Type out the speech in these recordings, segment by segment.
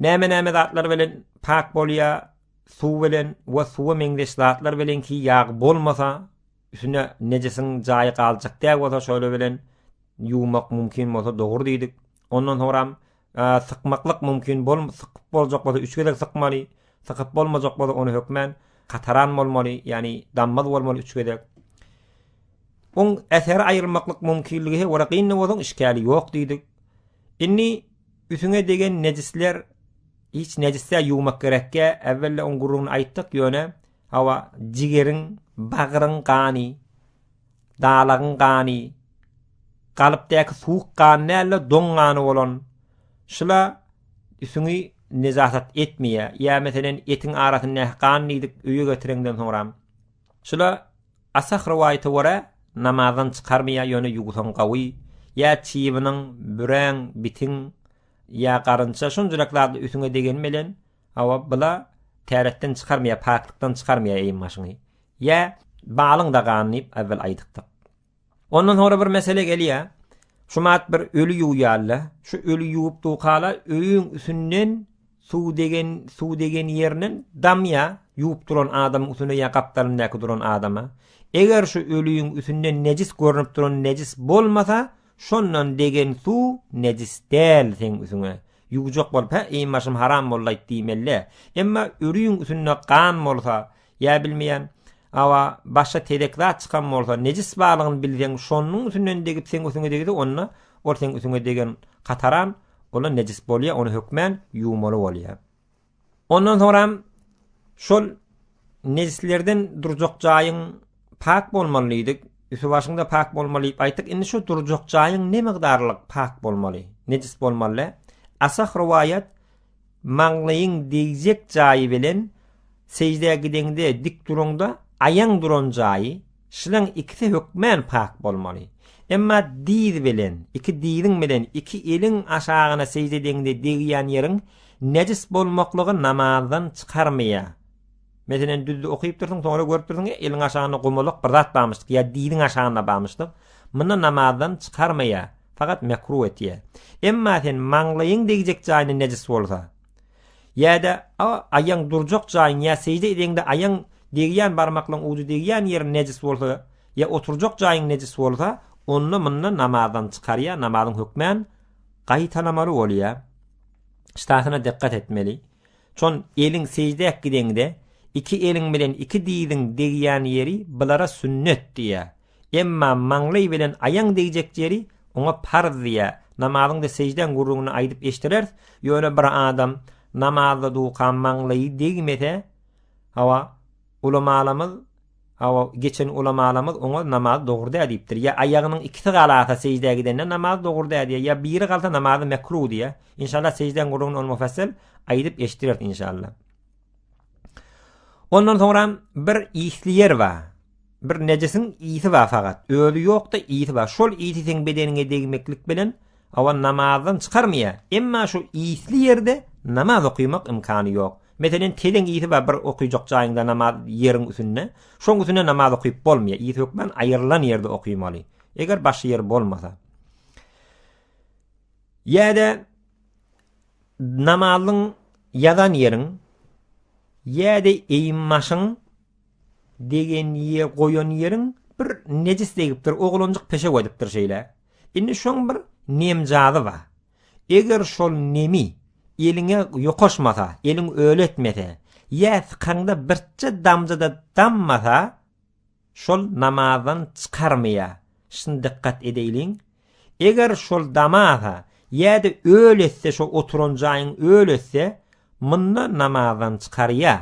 Näme-näme zatlar bilen pak bolýar? Suw bilen we suwa meňzeş zatlar bilen ki ýag bolmasa, üstüne nejisiň jaýy galjak däl bolsa şolar bilen ýuwmak mümkin bolsa dogry diýdik. Ondan soňram sykmaklyk mümkin bol, sykyp boljak bolsa üç gezek sykmaly, sykyp bolmajak bolsa ony hökmän kataran bolmaly, ýagny dammaz bolmaly üç gezek. Oň äseri aýrylmaklyk mümkinligi he wara gynda bolan işgäli ýok diýdik. Indi Üsüňe degen nejisler hiç nejisdäl ýuwmak gerekge äwwelde oň guruny aýtdyk ýöne hawa jigeriň bagryň gany dalagyň gany galypdaky suwuk gan dälde doň gany bolan şula üsüňi nejasat etmeýä ýa meselen etiň arasyndaky gan diýdik öýe getireňden soňram şula Ashab rowaýata görä, namazdan çykarmaýar, ýöne ýuwsaň gawy, ýa çybynyň, büräň, bitiň, ýa garynça, şunjarak zady üsüňe degeni bilen, hawa, bu-la täretden çykarmaýar, paklykdan çykarmaýar eýin-başyňy. Ýa balyň dagany diýip ewwel aýdypdyk. Ondan soňra bir mesele gelýär, şumat bir öli ýuwýarlar, şu öli ýuwup dukalar öýüň üsünden, Suw degen suw degen ýerinden damýa, ýuwup duran adamyň üstünde ýa gapdalyndaky duran adama. Eger şu öliň üstünden nejis görnüp duran nejis bolmasa, şondan degen suw nejis däl seň üsüňe. Ýuwjak bolup hä eý başym haram boldy aýt diýmelidä. Emma öliň üstünde gan bolsa, ýa bilmeýän awa başga tedek zat çykan bolsa, nejis balygyny bilseň şonuň üstünden degip seň üsüňe degse onda ol seň üsüňe degen kataran Onda nejis bolýar, ony hökmän ýuwmaly bolýar. Ondan soňra şol nejislerden durjak jaýyň pak bolmaly diýdik. Üstü başyňda pak bolmaly diýip aýtdyk. Indi şu durjak jaýyň ne mukdarlyk pak bolmaly, nejis bolmaly? Asah rowaýat Maňlaýyň degjek jaýy bilen seždä gideňde dik duraňda aýaň duran jaýy, şlaň ikisi hökmän pak bolmaly. Emma dyz bilen, iki dyzyň bilen iki eliň aşagyna sežde edeňde degýän ýeriň nejis bolmaklygy namazdan çykarmaýar. Meselem, düz okyp dursuň, soňra görüp dursuň, eliň aşagynda gumalak bir zat barmyşdyk ýa diliň aşagynda barmyşdyk. Munda namazdan çykarmaýar, fakat mekruh etýär. Emma sen maňlaýyň degjek jaýyna nejis bolsa, ýa-da aýaň durjak jaýyň ýa sežde edeňde aýaň degýän barmaklaň ujy degýän ýeriň nejis bolsa ýa oturjak jaýyň nejis bolsa, onda munda namazdan çykarýar, namazyň hökmän gaýtalamaly bolýar. Ştasyna dikkat etmeli. Çon eliň seždäp gideňde, iki eliň bilen iki diziň degýän ýeri bulara sünnet diýýär. Emma maňlaý bilen aýaň degjek ýeri oňa parz diýýär. Namazyňda seždäň gürrüňini aýdyp eşdireris, ýöne bir adam namazda duka maňlaýy degmese, hawa, Ulamalarymyz, hawa, geçen ulamalarymyz oňa namaz dogry däl diýipdir. Ýa aýagynyň ikisi galasa sejdä gidende namaz dogry däl diýýär, ýa biri galsa namazy mekruh diýýär. Inşallah sejdäň gürrüňini ol mufassal aýdyp eşitdireris inşallah. Ondan soňra bir isli ýer bar. Bir nejisiň isi bar fakat. Özi ýok-da isi bar. Şol isi seň bedeniňe degmeklik bilen Awa namazdan çykarmaýa, emma şu isli ýerde namaz okymak ymkany ýok. Meselen tezeň isi bar bir okyjak jaýyňda namaz ýeriň üsünde, şoň üsünde namaz okyp bolmaýa, is hökman aýrylan ýerde okymaly. Eger başga ýer bolmasa. Ýa-da namazyň ýazan ýeriň ýa-da eýim maşyň degen ýe goýan ýeriň bir nejis degipdir, oglanjyk peşew edipdir şeýle. Indi şoň bir nemjazy ba. Eger şol nemi eliňe ýokaşmasa, eliň öli etmese, ýa sykaňda birçe damja-da dammasa, şol namazdan çykarmaýa. Şun dykgat edeýliň. Eger şol damasa, ýa-da öli etse, şo oturan jaýyň öli etse, munda namazdan çykarýa.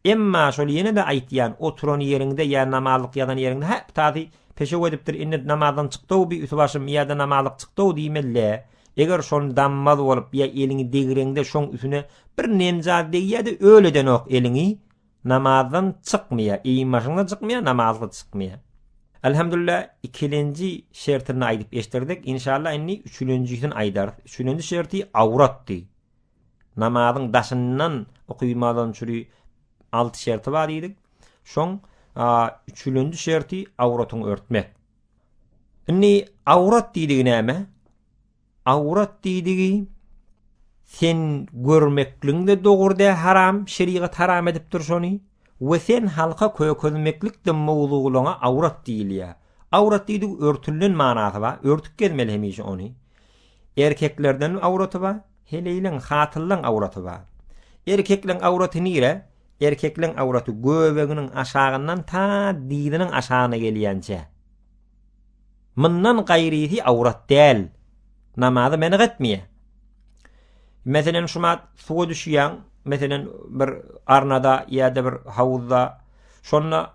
Emma şol ýene-de aýtýan, oturan ýeriňde ýa namazlyk ýazan ýeriňde, hä, ptaty, peşew edipdir, indi namazdan çykdy-ow bi üsübaşym ýa-da namazlyk çykdy-ow diýmeli-le. Eger şony dammaz bolup ýa eliňi degreňde şoň üsüne bir nemzat degýä-de öl edenok eliňi, namazdan çykmaýa, eýinbaşyňdan çykmaýa, namazlyk çykmaýa. Elhamdülillah, ikilenji şertini aýdyp eşdirdik. Inşallah indi üçülenjisini aýdarys. Üçülenji şerti awratdy. namazyň daşyndan okuymadan çüri alty şerti bar diýdik. Şoň üçülenji şerti awratyňy örtmek. Indi awrat diýdigi näme? Awrat diýdigi sen görmekliň de dogry dä haram, şerigat haram edipdir şony. We sen halka kökezmeklik de mowzuglaňa awrat diýilýär. Awrat diýdigi örtülen manasy bar, örtüp gezmeli hemişe ony. Erkeklerden awraty bar, Heleýleň, hatynlaň awraty bar. Erkekleň awraty nire? Erkekleň awraty göbeginiň aşagyndan ta dyzynyň aşagyna gelýänçä. Mundan gaýrysy awrat däl. Namazy meniň etmeýär. Meselen, şu mat suwa düşýäň, meselen, bir arnada ýa-da bir hawuzda, şonda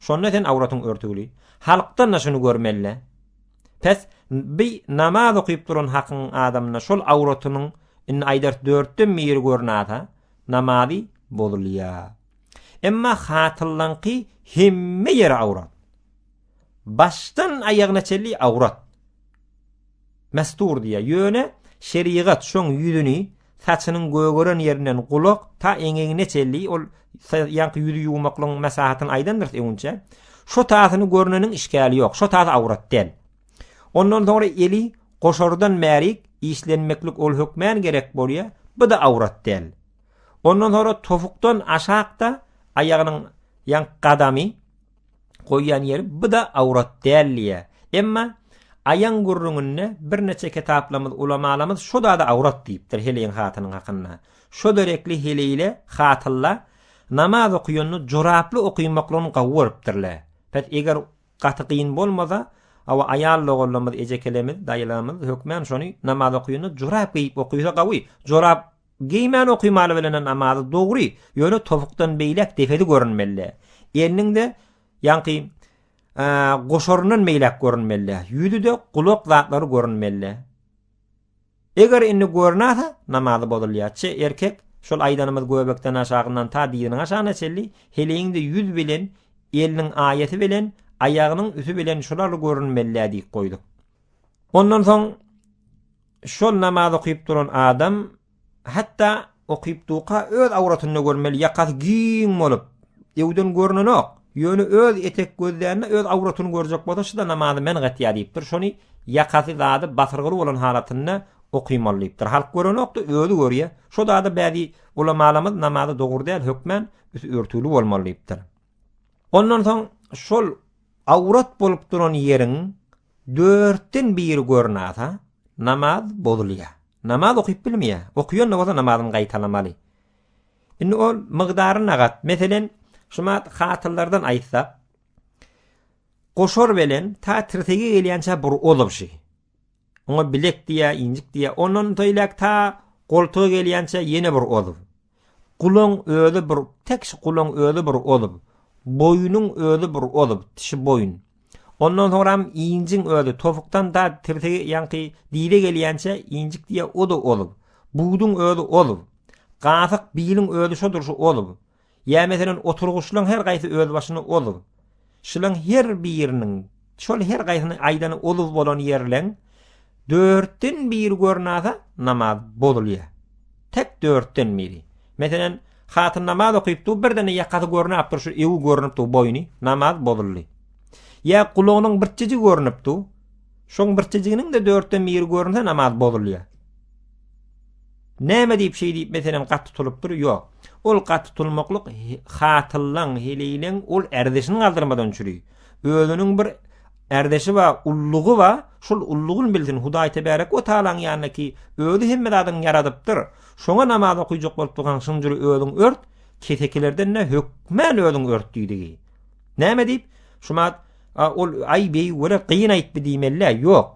Şonda sen awratyň örtügli. Halkdan-da şuny görmeli-le. Pes, bi namaz okyp duran hakyň adamyna şol awratynyň indi aýdars dörtden biri görnasa, namazy bozulýa. Emma hatynlaňky hemme ýeri awrat. Başdan aýagyna çenli awrat. Mesdur diýýär. Ýöne şerigat şoň ýüzüni, saçynyň gögeren ýerinden gulak ta eňegine çenli ol ýaňky ýüzi ýuwmaklygyň maslahatyny aýdandyrys öňünçä. Şo tasyny görneniň işgäli ýok. Şo tasy awrat däl. Ondan soňra eli goşardan bärik işlenmeklik ol hökmän gerek bolýar. Bu-da awrat däl. Ondan soňra topukdan aşakda aýagynyň ýaňky gadamy. goýýan ýeri bu-da awrat däl diýýär. Emma aýaň gürrüňinde birneçe kitaplarymyz, ulamalarymyz şu zady awrat diýipdir heleýiň hatynyň hakynda. Şo derekli heleýle hatylla namaz okaýanda joraply okaýmaklygyny gawy görüpdirler. Pes, eger gaty gyn bolmasa, hawa, aýal doganlarymyz, ejekelemiz, daýylarymyz hökman şony namaz okaýanda jorap geýip okaýsa gawy. Jorap Geýmän okymaly bilenen namazy dogry, ýöne topukdan beýläk depesi görünmeli. Eliniň-de, ýaňky, goşaryndan beýläk görünmeli. Ýüzi-de, gulak zatlary görünmeli. Eger indi görünäse, namazy bozulýar. Çe erkek, şol aýdanymyz göbekden aşagyndan ta diziniň aşagyna çenli, heleýiň-de ýüz bilen, eliniň aýasy bilen, aýagynyň üti bilen şular görünmeli diýip goýduk. Ondan soň Şol namaz okyp duran adam hatda okyp duka öz awratyny görmeli ýakasy giň bolup öwden görnenok ýöne öz etek gözlände öz awratyny görjek bolsa şuda namazy men gatýa diýipdir şony ýakasy zady basyrgyly bolan halatynda okymaly diýipdir halk görenokda özi görýä şo zada bäzi ulamalarymyz namazy dogry däl hökmän üsti örtügli bolmaly diýipdir ondan soň şol Awrat bolup duran ýeriň dörtden biri görnasa, namaz bozulýar. Namaz okyp bilmeýär. Okýan-da bolsa namazyny gaýtalamaly. Indi ol mygdary nagat. Meselen, şumat hatyrlardan aýtsak, goşar belen ta tirsege gelýänçä bir ozabşy. Oňa bilek diýä, injik diýä. Ondan söýläk ta goltuga gelýänçe ýene bir ozuw. Gulaň özi bir, tek şu gulaň özi bir ozuw. Boýnuň özi bir ozuw, şu boýun. Ondan soňram injiň özi tofukdan da tirsegi ýaňky dize gelýänçe injik diýä o da ozuw. Buduň özi ozuw. Gasyk biliň özi şodur şu ozuw. Ýa meselem oturgyçlaň her gaýsy özbaşyna ozuw. Şulaň her biriniň, şol her gaýsynyň aýdany ozuw bolan ýerleň dörtden biri görnasa namaz bozulýa. Tek dörtden biri. Meselem hatyn namaz okyp dur birden ýakasy görnap dur şu ewi görnüp dur boýny namaz bozuldy. Ýa gulagynyň birçiji görnüp dur şoň birçijiginiň-de dörtden biri görnse namaz bozulýa. Näme diýip şeý diýip meselem gat tutulypdyr? Ýok. Ol gat tutulmaklyk hatyllaň, heleýleň ol ärdeşini galdyrmadan çüri. Özüniň bir ärdeşi bar, ullugy bar. Şol ullugyny bilsin. Hudaý Tebarek we Taalaň ýanyna ki, özi hemme zadyny ýaradypdyr. Şoňa namaz okuyjak bolup dursaň, şunuň jüri özüň ört, kesekilerden ne hökmän özüň ört diýdigi. Näme diýip? Şumat, a ol aý beýik we gyýyn aýtdy diýmelidä? Ýok.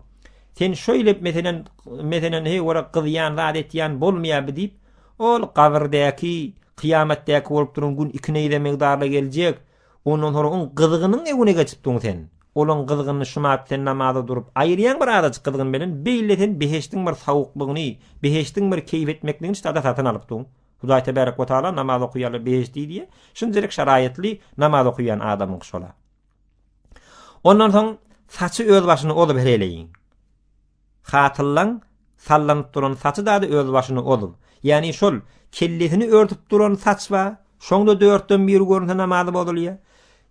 Sen şöyle meselen, meselen hey ora gyzýan zat etýän bolmaýarby diýip, ol gabyrdäki, kyýamatdaky bolup duran gün iki neýze migdarda geljek. Ondan sonra on gyzgynyň öňüne geçip duň sen. Olaň gyzgynyny şumat sen namaza durup aýyrýan bir azajyk gyzgyn bilen beýle sen behişdiň bir sawuklygyny, behişdiň bir keýp etmekligini şada satyn alyp duň. Hudaý tebarek we taala namaz okaýarlar behişdi diýýär. Şunjalyk şaraýatly namaz okaýan adamyň şola. Ondan soň saçy öz başyny ozup hereýleýin. Hatyllaň sallanyp duran saçy dady öz başyny ozup, ýagny şol kellesini örtüp duran saç ba, şoňda dörtden biri görünse namazy bozulýa.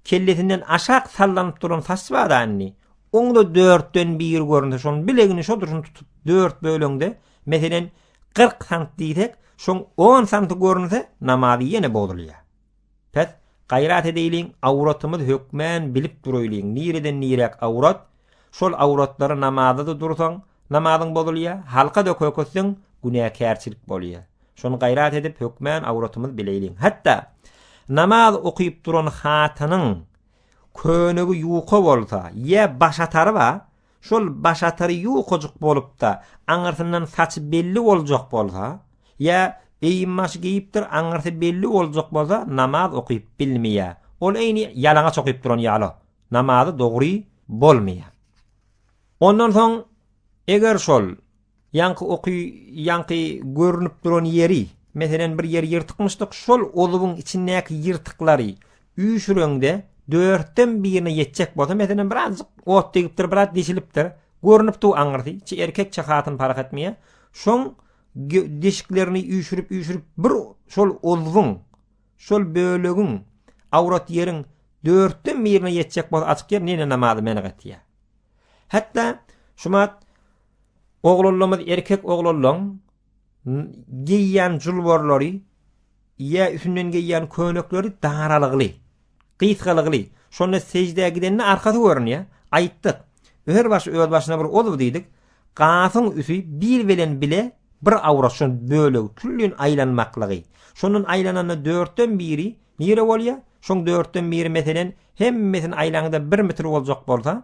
Kellesinden aşak sallanyp duran saç ba da indi, oňda dörtden biri görünse şoň bilegini şo durşun tutup dört böleňde, meselen, 40 sant diýsek, şoň 10 santy görünse namazy ýene bozulýa. Bäs, gaýrat edeýliň, awratymyz hökmän bilip duraýlyň, nireden niräk awrat, şol awratlary namazda-da dursaň, namazyň bozulýa, halka-da köketseň, günäkärçilik bolýa. Şony gaýrat edip, hökmän awratymyz bileýliň. Hatda, namaz okyp duran hatynyň könegi ýuka bolsa, ýa başatary bar, Şol baş atary ýukajyk bolup-da, aňyrsyndan saçy belli boljak bolsa, ýa geýim-başy geýipdir, aňyrsy belli boljak bolsa, namaz okyp bilmeýär. Ol eýni ýalaňaç okyp duran ýaly, namazy dogry bolmaýar. Ondan soň, eger şol Ýaňky oky ýaňky görnüp duran ýeri, meselen bir ýer ýyrtykmyşdyk şol olubyň içindäki ýyrtyklary üýşüreňde dörtden birine ýetjek bolsa meselen bir azjyk ot degipdir biraz deşilipdir görnüp dur aňyrsy çi erkek çi hatyn parah etmeýä şoň deşiklerini üýşürip üýşürip bir şol olubyň şol bölegiň awrat ýeriň dörtden birine ýetjek bolsa açyk ýer nene namazy menek etýä hatda şumat Oglanlarymyz erkek oglanlaň geýýän julbarlary ýa üstünden geýýän könekleri daralygly, gysgalygly. Şonda sejdä gidende arkasy görünýär. Aýtdyk. Öher baş öz başyna bir ozuw diýdik. Gasyň üsi bir bilen bile bir awrat şol bölegi küllin aýlanmaklygy. Şondan aýlananda dörtden biri nire bolýar? Şoň dörtden biri meselen hemmesini aýlaňda bir metr boljak bolsa,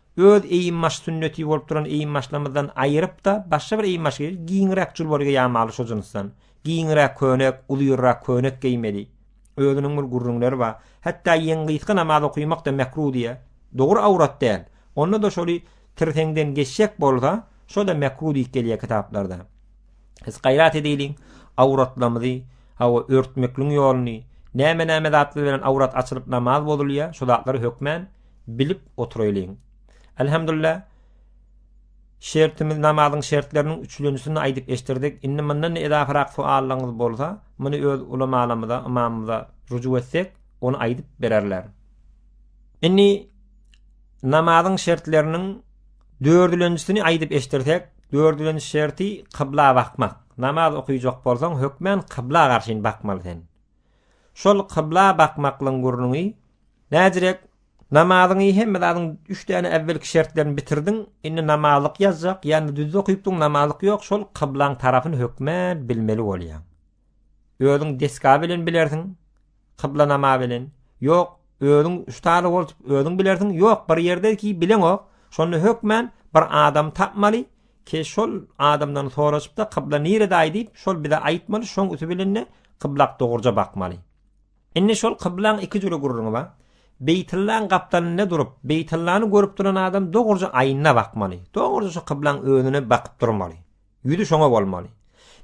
Öz eýinbaş sünneti bolup duran eýinbaşlarymyzdan aýyryp-da, başga bir eýinbaş geýeli, giňräk julbary geýämaly şo jynsdan. Giňräk köýnek, uzyrrak köýnek geýmeli. Özüniň bir gürrüňleri bar. Hatda ýeň gysga namaz okymak-da mekruh diýýä. Dogry awrat däl. Onda-da şoly tirseňden geçjek bolsa, şo-da mekruh diýip gelýä kitaplarda. Biz gaýrat edeýliň, awratlarymyzy, hawa, örtmekliň ýoluny, näme-näme zatlar bilen awrat açylyp namaz bozulýa, şo zatlary hökmän, bilip oturaýlyň. Elhamdulillah şertimiz namazyň şertleriniň üçlenjisini aýdyp eşdirdik. Indi mundan da edafarak soallaryňyz bolsa, muny öz ulamalarymyza, ymamymyza rujuk etsek, ony aýdyp bererler. Indi namazyň şertleriniň dördülenjisini aýdyp eşdirsek, dördülenji şerti kybla bakmak. Namaz okaýjak bolsaň, hökmän kybla garşyn bakmaly sen. Şol kybla bakmaklygyň gürrüňi näzirek? Namazyňy hemme zadyň üç däne äwwelki şertlerini bitirdiň, indi namazlyk ýazjak, ýa-da düz okypdyň, namazlyk ýok, şol kyblaň tarapyny hökmän bilmeli bolýaň. Özüň desga bilen bilersiň, kyblanama bilen, ýok, özüň ustazy bolup özüň bilersiň, ýok, bir ýerde ki bileňok, şonda hökmän bir adamy tapmaly, Ki şol adamdan soraşypda kybla nirede aý diýip şol bize aýtmaly şoň üsi bilende kyblak dogruja bakmaly. Indi şol kyblaň iki jüri gurruňy bar. Beýtyllaň gapdalynda durup Beýtyllany görüp duran adam dogruja aýyna bakmaly. Dogruja şo kyblaň özüne bakyp durmaly. Ýüzi şoňa bolmaly.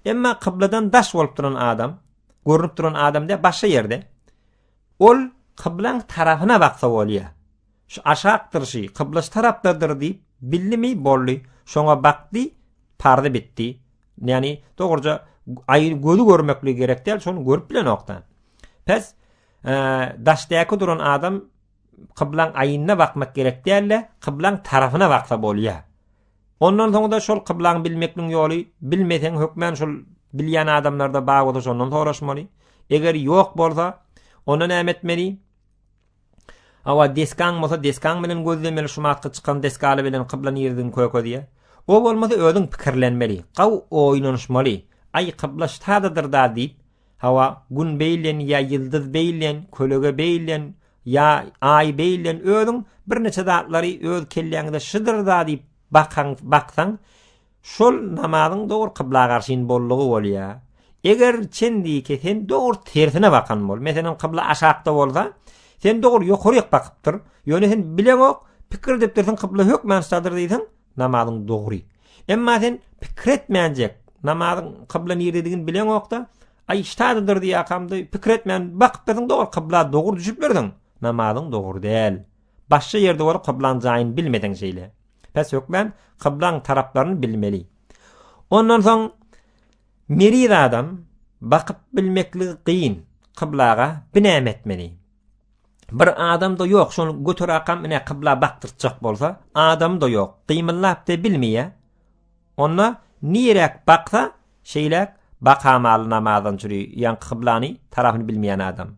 Emma kybladan daş bolup duran adam görnüp duran adam de başga ýerde. Ol kyblaň tarapyna baksa bolýa. Şu aşakdyr şy, kybla şu tarapdadyr diýip, bildimi, boldy, şoňa bakdy, parzy bitdi. Ýani, dogruja, aýyny gözi görmekligi gerek däl, şony görüp bilenok-da. Pes, daşdaky duran adam kyblaň aýyna bakmak gerek däl-de, kyblaň tarapyna baksa bolýar. Ondan soň-da şol kyblaň bilmekligiň ýoly, bilmeseň hökmän şol bilýän adamlarda bar bolsa şondan soraşmaly. Eger ýok bolsa, onda näme etmeli? Hawa, desgaň bolsa desgaň bilen gözlemeli şumatky çykan desgaly bilen kybla niredigiň kökezýä. O bolmasa özüň pikirlenmeli, gaw oýnanyşmaly, Aý kybla ştadadyr-da diýip, hawa, Gün beýlen ýa ýyldyz beýlen, kölege beýlen ýa Aý beýlen özüň birneçe zatlary öz kelläňde şydyr-da diýip bakaň, baksaň, Şol namazyň dogry kybla garşyn boldugy bolýa. Eger çendiki sen dogry tersine bakan bol. Meselem kybla aşakda bolsa, sen dogry ýokaryk bakypdyr. Ýöne sen bileňok, pikir edipdirsiň kybla hökman şadyr diýseň, namazyň dogry. Emma sen pikir etmänjek, namazyň kybla nirdedigini bileňokda, aý şadydyr diýakamda pikir etmän bakypdyrsyn dogry kybla dogry düşüp birdiň. Namazyň dogry däl. Başga ýerde bolup kyblaň jaýyny bilmeseň şeýle. Pes hökmän kyblaň taraplaryny bilmeli. Ondan soň meriz adam bakyp bilmekligi kyn kyblaga binäme etmeli. Bir adam-da ýok, şony göterakam ine kybla bakdyrtjak bolsa, adam-da ýok, gymyllap-da bilmeýär. Onda niräk baksa, şeýläk bakamaly namazdan çüri, ýaňky kyblany tarapyny bilmeýän adam.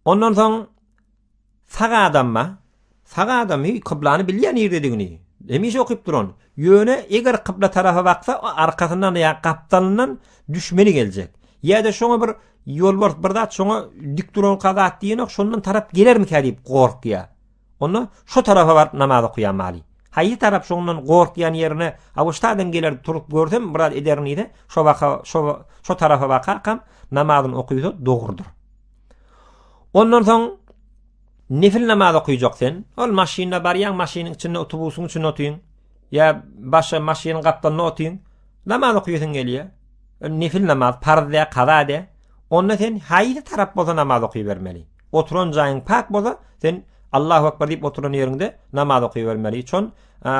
Ondan soň sag adamma, sag adam hi kyblany bilýän ýerdedigini, hemişe okyp duran. Ýöne eger kybla tarapa baksa, arkasyndan ýa gapdalyndan düşmeni geljek. Ýa-da şoňa bir ýolbars bir zat şoňa dik duran kadat diýenok, şondan tarap gelermikä diýip gorkýar. Onda şo tarapa baryp namaz okaýamaly. Haýsy tarap şondan gorkýan ýerine Awuştadan geler turup görsem biraz ederin diýse, şo baka şo şo tarapa bakarkam namazyny okaýsa dogrudyr. Ondan soň nefil namaz okaýjak sen. Ol maşynda barýaň, maşynyň içinde otubusyň içinde otyň. Ýa başga maşynyň gapdalynda otyň. Namaz okaýasyň gelýär. Nefil namaz, parz dä, kaza dä. Onda sen haýsy tarap bolsa namaz okaýbermeli. Oturan jaýyň pak bolsa, sen Allahu akbar diýip oturan ýeriňde namaz okaýbermeli. Çon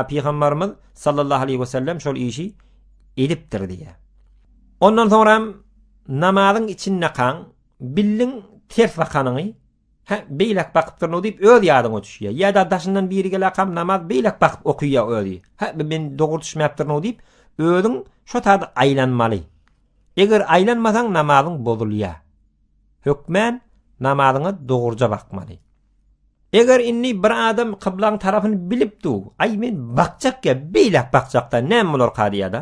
pygamberimiz sallallahu aleýhi we sellem şol işi edipdir diýýär. Ondan soňra hem namazyň içinde kan billiň ters bakanyňy ha beýlek bakypdyr no diýip öz ýadyňa düşýär. Ýa da daşyndan biri gelä kam namaz beýlek bakyp okaýar özi. Ha men dogry düşmäpdir no diýip özüň şo taýda aýlanmaly. Eger aýlanmasaň namazyň bozulýar. Hökmän namazyňa dogruja bakmaly. Eger indi bir adam kyblaň tarapyny bilip du, aý men bakjak ýa beýläk bakjakda näme bolarka diýýäda.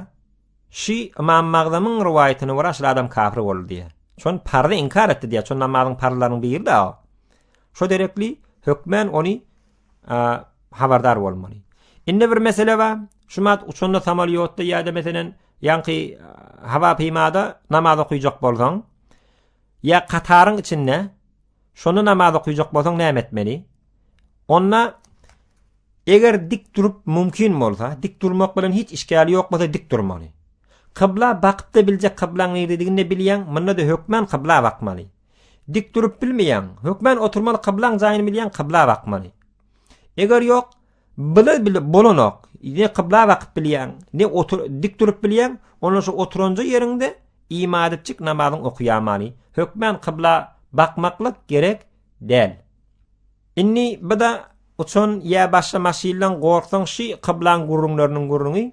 Şy Ymam Magzamyň rowaýatyna görä şul adam kafir boldy diýýä. Şon pardy inkar etdi diýýä, şon namazyň parzlarynyň biri-de o. Şo derekli hökmän ony habardar bolmaly. Indi bir mesele bar. Şumat uçanda samolyotda ýa-da meselen ýaňky hava peýmada namaz okuyjak bolsaň, ýa kataryň içinde şonda namaz okuyjak bolsaň näme etmeli? Onda eger dik durup mümkin bolsa, dik durmak bilen hiç işgäli ýok bolsa dik durmaly. Kybla bakyp da biljek kyblaň nirdedigini de bilýän, munda da hökman kybla bakmaly. Dik durup bilmeýäň, hökmän oturmaly kyblaň jaýyny bilýäň kybla bakmaly. Eger ýok, bile bile bolanok. Ne kybla bakyp bilýäň, ne otur dik durup bilýäň, onda şu oturanja ýeriňde imadetjik namazyň okaýamaly. Hökmän kybla bakmaklyk gerek däl. Inni bida uçan ýa başga maşynlaň gorksaň şi kyblaň gurruňlarynyň gurruňy.